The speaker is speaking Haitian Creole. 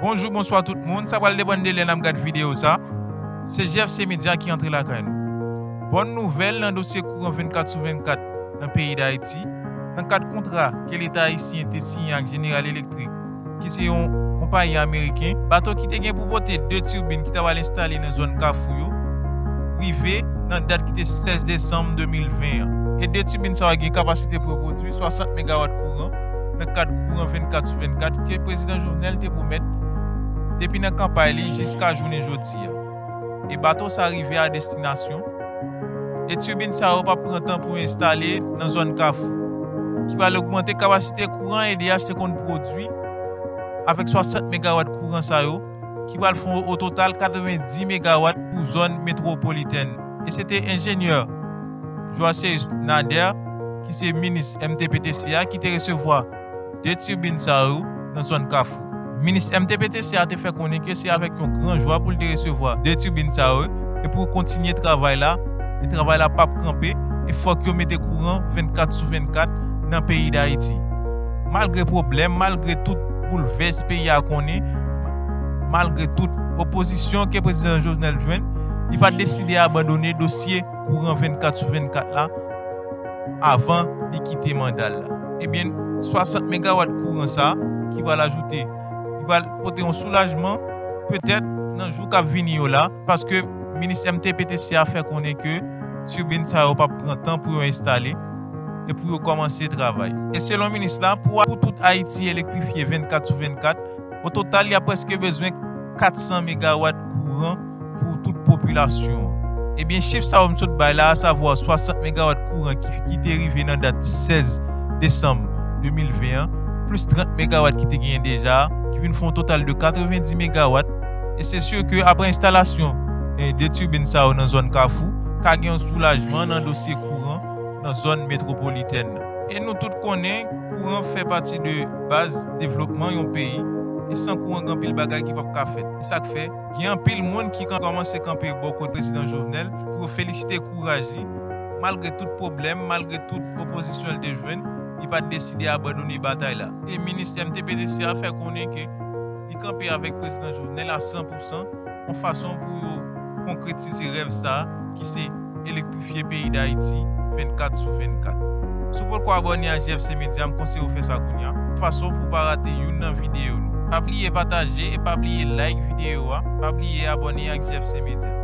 Bonjou bonswa tout moun sa pral depann de lè nap gad video sa se JFC media ki antre lakay nou bòn nouvèl nan dosye kouran 24 sou 24 nan peyi dayiti nan kad kontra ke leta ayisyen te siyen ak General Electric ki se yon konpayi ameriken, bato ki te gen pou pote 2 tirbin ki ta pral enstale nan zòn Kafou yo, rive nan dat ki te 16 desanm 2020 an. E 2 tirbin sa yo gen kapasite pou yo pwodui 60 megawat kouran nan kad kouran 24 sou 24 ke Prezidan Jovenel te pwomèt depi nan kanpay li jiska jounen jodi a. e bato sa rive a destinasyon, e turbine sa yo pap pran tan pou yo enstale nan zòn Kafou, ki pral ogmante kapasite kouran edh te konn pwodwi avèk 60 megawat kouran sa yo ki pral fon o total 90 megawat pou zòn metwopolitèn e se te enjenyè Joaceus Nader ki se minis mtptc a ki te resevwa 2 tirbin sa yo nan zòn Kafou. Minis MTPTC a te fè konnen ke se avèk yon gran jwa pou l te resevwa 2 tirbin sa yo e pou yo kontinye travay la e travay la pap kanpe e fòk yo mete kouran 24 sou 24 nan peyi Dayiti. Malgre pwoblèm, malgre tout boulvès peyi a konnen, malgre tout opozisyon ke Prezidan Jovenel jwenn, li pa deside abandone dosye kouran 24 sou 24 la, avan li kite manda l la. Ebyen 60 megawat kouran sa ki pral ajoute, li pral pote yon soulajman petèt nan jou k ap vini yo la, paske minis MTPTC a fè konnen ke turbine sa yo p ap pran tan pou yo enstale e pou yo kòmanse travay. E selon minis la, pou tout Ayiti elektrifye 24 sou 24, ototal y a prèske bezwen 400 megawat kouran. pou tout popilasyon an. Ebyen chif sa yo m sot bay la a savwa 60 megawat kouran ki te rive nan dat 16 desanm 2020 an plis 30 megawat ki te genyen deja a ki vin fè yon total de 90 megawat e se sur ke aprè enstalasyon 2 turbine sa yo nan zòn kafou ka gen yon soulajman nan dosye kouran nan zòn metwopolitèn nan. E nou tout konnen kouran fè pati de baz devlopman yon peyi e san kouran gen anpil bagay ki pap ka fèt e sak fè. Gen anpil moun ki kòmanse kanpe bò kot Prezidan Jovenel pou yo felisite kouraj li. Malgre tout pwoblèm, malgre tout opozisyon li te jwenn, li pa t deside abandone batay la. E minis MTPTC a fè konnen ke li kanpe avèk Prezidan Jovenel a san pou san, yon fason pou yo konkretize rèv sa a ki se. elektrifye peyi Dayiti 24 sou 24. Si w potko abòne a JFC Media m konseye w fè sa kounya, fason pou w pa rate youn nan videyo nou. Pa bliye pataje e pa bliye like videyo a, pa bliye abòne ak JFC Media.